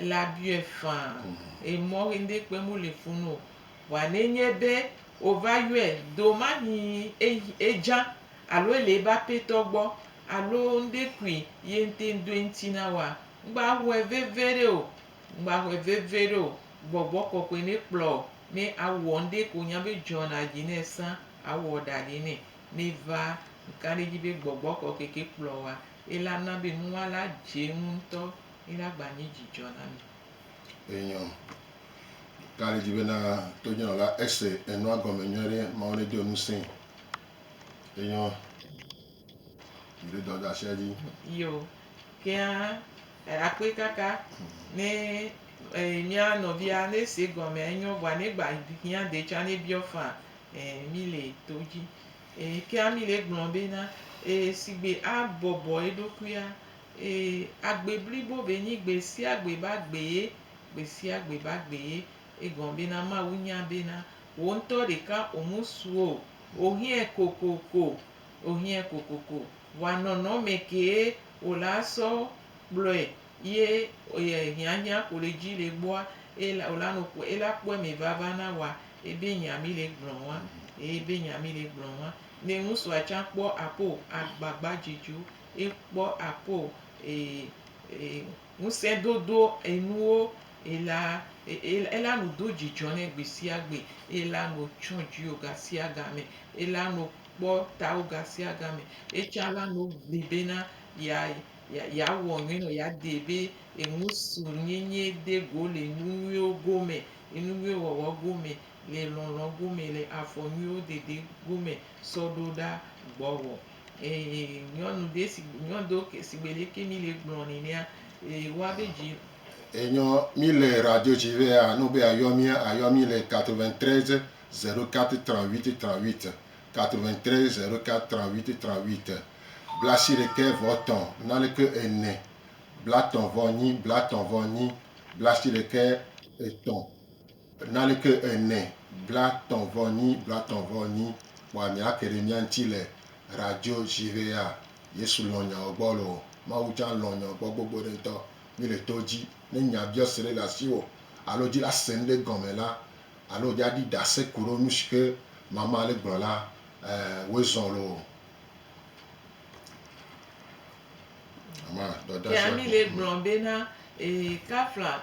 B: Ele abiɔe faa eye mɔ ɣi ŋɖe kpem wo le funu o. Vɔa ne nye be wo va yɔe do mahi e dza alo ele ebe apetɔ gbɔ alo ŋɖe kui ye ŋte ŋdo eŋti na woa, ŋgba hɔɛ veveɖe o. Ŋgba hɔɛ veveɖe o. Gbɔgbɔ kɔkɔe ne kplɔ wò ne awɔ ŋɖe ke wò nya be dzɔ na dzi ne sã awɔ ɖa ɖɛ nɛ. Ne va ŋka ɖe edzi be gbɔgbɔ kɔkɔe ke kplɔ wòa, ela na be nua la dze eŋu ŋtɔ. Mina gba nye dzidzɔ na mi. Enyɔ.
A: Ka le dzi bena tonyɔnɔla ese enua gɔme nyuie ɖe? Mawu nedo ŋusẽ. Enyɔ. Mi ɖe dɔ ɖasia dzi. Yo.
B: Kea e akpe kaka ne e mia nɔvia ne se gɔme enyɔ vɔa ne gba hiã de tsa ne biɔ fã e mi le to dzi. E kea mi le gblɔ bena e sigbe a bɔbɔ eɖokuia Ee, agbe blibo be nyi gbesiagbe be agbee, gbesiagbe be agbee. Egɔme bena Mawu nya bena wò ŋutɔ ɖeka ò mu su o. Ò hiãe kokoko, ò hiãe kokoko. Vɔa nɔnɔ mɛ kee wò le asɔ kplɔɛ ye e hiãhiã ko le dzi le gbɔa, ela wò la nɔ kpɔɛ, ela kpɔɛ mɛ vava na wòa. Ebe nya mi le gblɔ ŋua. Ebe nya mi le gblɔ ŋua. Ne ŋusua tsã kpɔ aƒe o, agbagba dze dzi wo. yi kpɔ apo e e ŋusẽ dodo enuwo yi la yi la nu do dzidzɔ nɛ gbesiagbe yi la nu tsɔ dziwo gasiagame yi la nu kpɔ tawo gasiagame yi tsã la nu gbi be na ya ya wɔ nyuie nɔ ya de be enu su nyenye de go le nu nyuiwo gome enu nyuie wɔwɔ gome le lɔlɔ gome le afɔ nyuiwo dede gome sɔ ɖo ɖa gbɔwɔ Ee, nyɔnu ɖe si nyɔnu ɖewo ke sigbe leke mi le gblɔ ni nea, ee, woa be dzi. Enyɔ
A: mi le radio dzi be a no be a yɔ mi a yɔ mi le 93 04 38 38, 93 04 38 38, blaasiɖekɛ vɔ tɔ naleke ene, blatɔ vɔ nyi, blatɔ vɔ nyi, blaasiɖekɛ etɔ. Naleke ene, blatɔ̃ vɔ nyi, blatɔ̃ vɔ nyi, kpɔa mia ke ɖe mia ŋti le radio ji vea? Yesu lɔ̃ nyao gbɔ loo. Mawu tsã lɔ̃ nyao gbɔ gbogbo ɖe ŋtɔ. Mi le to ji. Ne nya biɔse ɖe le asiwo alo dila ase nuɖe gɔme la alo dja ɖi ɖase kuɖo nusi ke mama le gblɔ la, eh, woe zɔ̃ loo. Amen. Dɔdasi Kea mi le gblɔ
B: bena, Ee, kafla.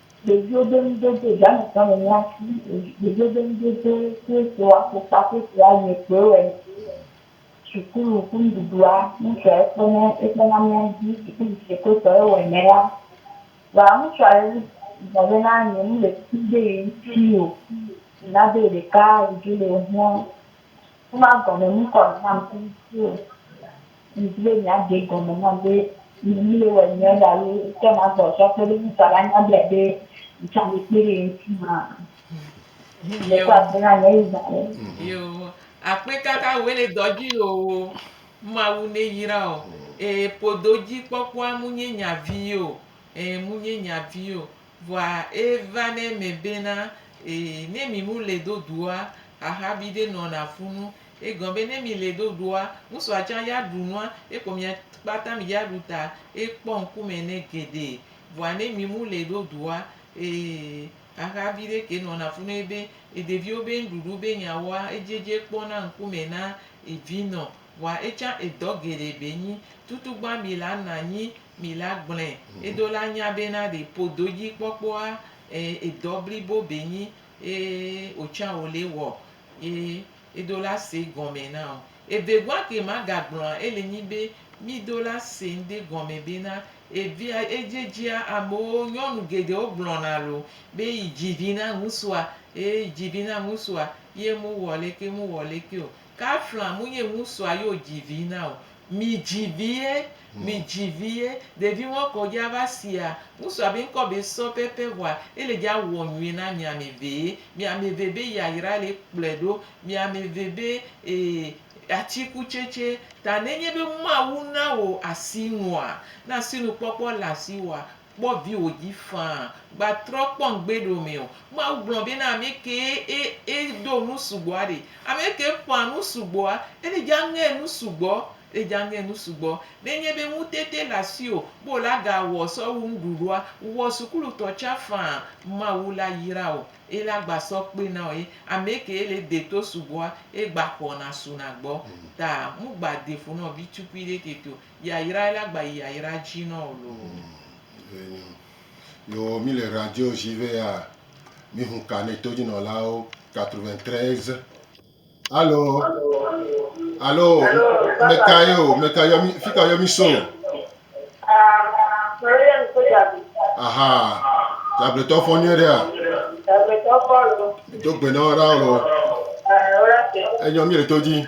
C: Dzodzroɖonudodo, Janetɔ le mía si. Dzodzroɖonudodo Kristotɔ afɔkpa kple fia yeye kpoe wɔe. Sukulu ƒe nuɖuɖua, ŋutsua ye kpɔnɛ, ekpɔna mía dzi. Sukulu si yekpe tɔ ye wɔnɛ la, vɔa ŋutsua ye gblɔ be na nye nu le kum ɖe ye ŋuti o. Nado ɖeka, vidzĩ le ye ŋua. Wova gɔme nu kɔ nam kple ŋku o. Ŋdi be miaɖe gɔme nam be nye nu le wɔ nyuiɖe alo ŋkɔ nagbɔ sɔ kpe ɖe ŋu ta la nya bia be ŋtsã me kpe ɖe ŋti maa. Ŋle kɔ akpe na nye Yuda ɖe. Yo,
B: akpe kaka wòe le dɔ dzi loo. Mawu ne yra o. Ee, podo dzi kpɔkpɔa mu nye nya vi o. Ee, mu nye nya vi o. Vɔa eva nɛ me bena ee ne mi mu le do doa xaxa bi ɖe nɔna fu nu. Egɔn be ne mi le do doa ŋusua tsan ya ɖu nua ekɔ mia kpata mi ya ɖu ta ekpɔ ŋku me ne geɖe. Vɔa ne mi mu le do doa ee xaxa bi ɖe ke nɔna fu nɛ be eɖeviwo be ŋɖuɖu be nya wɔa edziedze kpɔ na ŋku me na evi nɔ. Vɔa etsan edɔ geɖe be nyi tutugba mi la na nyi Mi la gblɔe edo la nya be na ɖe po do dji kpɔkpɔ a e edɔ blibo be nyi ye o tsa wo le wɔ ye edo la se gɔme na o. Eve gua ke ma ga gblɔ a ele nyi be mi do la se ŋde gɔme be na evia edje djia amewo nyɔnu geɖewo gblɔ na lo be yi dji vi na ŋusua e yi dji vi na ŋusua ye mu wɔ leke mu wɔ leke o. Kafla mu nye ŋusua yo dzi vi na o. Mi dzi vi ye, mi dzi vi ye. Ɖevi ŋɔ kɔ dja va sia. Ŋusua be ŋkɔ be sɔ pɛpɛ ŋua. Ele dja wɔ nyuie na mi ame ve ye. Mi ame ve be yayra le kplɔe ɖo. Mi ame ve be ee atikutsetse. Ta ne nye be Mawu na wò asi nua, ne asi nu kpɔkpɔ le asi wòa, Kpɔ viwò dzi faa. Gba trɔ kpɔ ŋgbe ɖe wome o. Mawu gblɔ be na ame kee e e do nu sugbɔa ɖe. Ame ke ƒã nu sugbɔa, ele dza ŋe nu sugbɔ. Ele dza ŋe nu sugbɔ. Ne enye be ŋutete le asiwò be wòle aga wɔ sɔ wu nuɖuɖua, wɔ sukulutɔ tsã faa. Mawu la yra wò. Ela gba sɔ kpe na wò ye. Ame ke le de to sugbɔa, egba xɔna suna gbɔ. Ta ŋugba de fu nɔ vitukui ɖe tete o. Yayra ela gba yi yayra dji nɔ o loo. Vɛ nyo.
A: Yo mi le radio ji vɛ ya mi hun ka nɛ to jinɔlawo 93. Alo alo meka yo meka yo mi fika yo mi so. Ame ɖe yɔ mi so djagbe. Aha djagbe tɔ fɔ nyuie ɖea. Djagbe tɔ fɔ loo. Mi do gbe nɔ ra o loo. Enyɔ mi le to dji.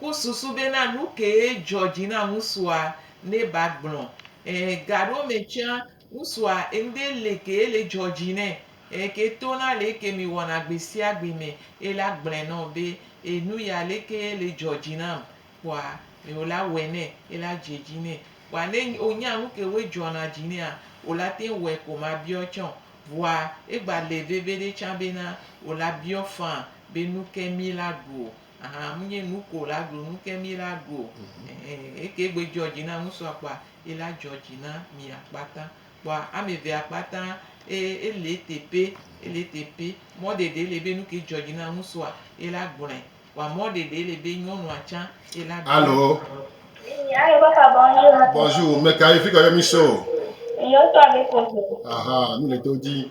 B: Ku susu bena nu kee dzɔ dzi na ŋusua ne ba gblɔ. E gaɖewo me tsã, ŋusua ŋde le kee le dzɔ dzi nɛ e ke to na leke mi wɔna gbesiagbe me e la gblɔe nɔ be e nu ya leke le dzɔ dzi nam kpɔa me o la wɔe nɛ e la dze dzi nɛ kpɔa ne o nya nu kewoe dzɔ na dzi nɛa o la te ŋ wɔe ko ma biɔ tsã o. Vɔa e gba le veveɖe tsã bena o la biɔ faa be nu ke mi la gu o. Ahan mu nye nu ko la ɖu nu ke mi la ɖu o. Eke gbe dzɔ dzi na ŋusua kpɔa, yi la dzɔ dzi na mi akpata. Kpɔa ame ve akpata e ele teƒe, ele teƒe. Mɔ ɖeɖe ele be nu ke dzɔ dzi na ŋusua, yi la gblɔe. Kpɔa mɔ ɖeɖe ele be nyɔnua tsã yi la gblɔe. Alo.
A: Alo papa bonjour. Bonjour, meka ye? Fika ye mi so?
C: Yo
A: so Abepozo. Ahan, nu le to
C: dzi.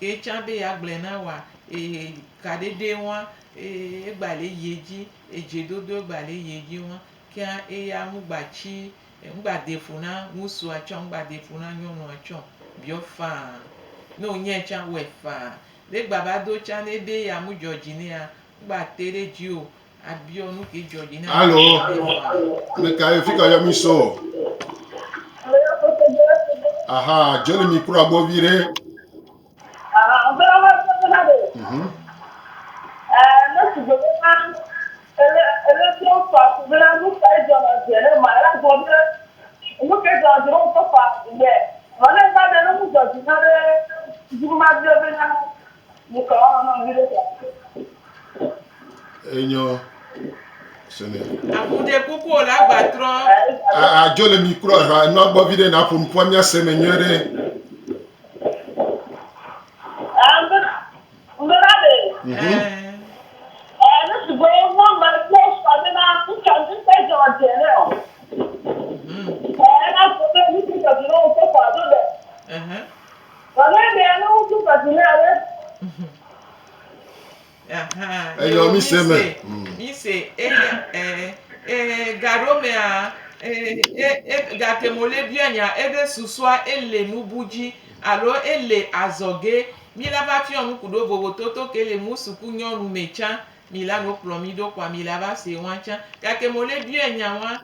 B: Ye tsã be yeagblɔe na wòa? Ee, kaɖeɖee ŋua, ee, egbale yi edzi, edzedodo egbale yi edzi ŋua, kea eya ŋugbatsi, ŋugbadee ƒo na ŋutsua tsɛ o, ŋugbadee ƒo na nyɔnua tsɛ o. Biɔ faa. Ne wònyae tsã, wɔe faa. Ne egbava do tsã, ne ebe yeamudzɔ dzi nɛa, ŋugbatee ɖe edzi o. Alo,
A: me ka ye fi ka yɔ mi so? Aha, Joli mi kura gbɔ vi ɖe. Mhm. Enyɔ sene.
B: Avu ɖe kuku o la gba trɔ. Adzo le
A: mi kura ha enua gbɔ vi ɖe na ƒo nukua mia se me nyuie ɖe.
B: Gake ɖe ame ŋuti kɔ si na ame. Aha, Eyɔ mi se me. Mi se eye e e gaɖo mea e e e gate mo le bia nya ebe susua ele nubu dzi alo ele azɔge. Mi la va fiɔ nuku ɖo vovototo ke le mu suku nyɔnu me tsã. Mi la no kplɔ mi ɖo kɔa mi la va se wan tsã. Gake mo le bia nya wan.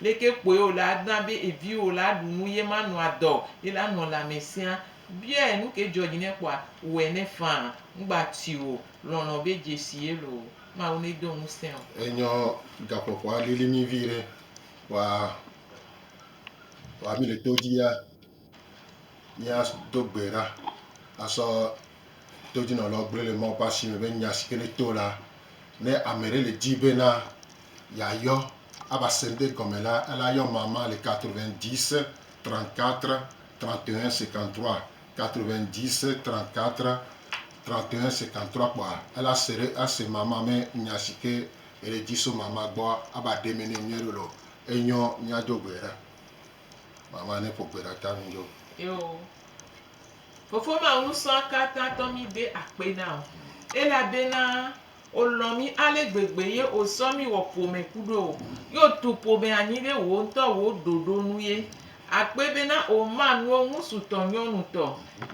B: Leke kpoe wòle adɔa be eviwò la aɖu nu ye manɔ adɔ ye la nɔ lãme sia? Biae, Nu kae dzɔ dzi nɛ kpɔa? Wɔe nɛ faa. Ŋgba ti o. Lɔlɔ̃ be dzesi ye loo. Mawu nedo ŋusẽ wò. Enyɔ gaƒoƒoa
A: lili mí viɖe. Wa, wa mí le to dzi ya. Míado gbe ɖa asɔ todzinɔlawo gblɔe le Mawu ƒe asi me be nya si ke ne to la, ne ame ɖe le di bena yeayɔ ava se ŋɖe gɔme la, ele ayɔ amama le 90 34 31 53, 90 34 31 53 kpɔa ele ase ɖe ase mama me nya si ke ele di so mama gbɔa ava ɖe eme nɛ nyuie loo. Enyɔ míado gbe ɖa. Mama ne ƒo gbe ɖa ta nu dzo. Eo.
B: Fofo ma Ŋusɔakatãtɔ mi de akpe na o, elabena o lɔn mi ale gbegbe ye o sɔ mi wɔ ƒome kuɖo o, ye o tu ƒome anyi ɖe wò ŋutɔ wò ɖoɖo nu ye. Akpe bena o ma nuwo ŋusu tɔ nyɔnu tɔ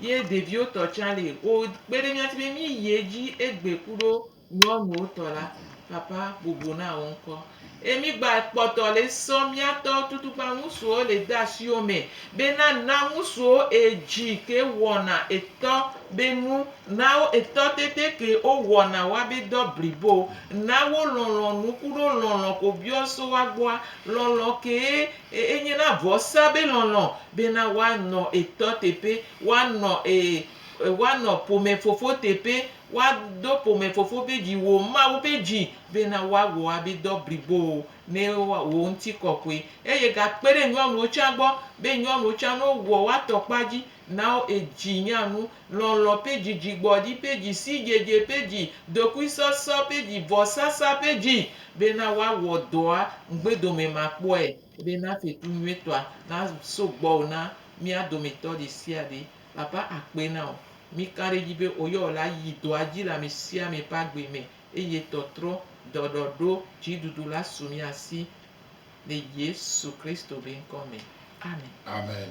B: ye ɖeviwo tɔ tsa le. O kpe ɖe mia tsi be mi yi edzi egbe kuɖo Nyɔnuwo tɔ la, papa boboo na wo ŋkɔ. Eye mi gba kpɔtɔ le sɔ mia tɔ tutugba ŋusuwo le de asiwo me be na na ŋusuwo edzi ke wɔna etɔ be nu, na wo etɔ tete ke wo wɔna wa be dɔ blibo. Na wo lɔlɔ nu kuɖo lɔlɔ ko biɔ so wa gbɔa. Lɔlɔ kee e enye na vɔsa be lɔlɔ be na wa nɔ etɔ teƒe, wa nɔ e wa nɔ ƒome fofo teƒe. Woado ƒome fofo ƒe dzi, wò Mawu ƒe dzi, bena woawɔ woabe dɔ blibowo ne wò ŋutikɔkɔe, eye gakpe ɖe nyɔnuwo tsã gbɔ, be nyɔnuwo tsã ne wowɔ woa tɔ kpɔa dzi, na wo edzi nya nu, lɔlɔ̃ ƒe dzi, dzigbɔɖi ƒe dzi, sidzedze ƒe dzi, dokuisɔsɔ ƒe dzi, vɔsasa ƒe dzi, bena woawɔ dɔa ŋugbedomemakpɔe, bena fetu nyuitɔa naso gbɔwò na mía dometɔ ɖe sia ɖe. Baba akpe na wò. Mí ka ɖe edzi be oyɔ wò la yi dɔa dzi le amesiame ƒe agbe me eye tɔtrɔ, dɔɖɔɖo, dziɖuɖu la su mía si. Le Yesu Kristo
A: be
B: ŋkɔ me. Amen. Amen.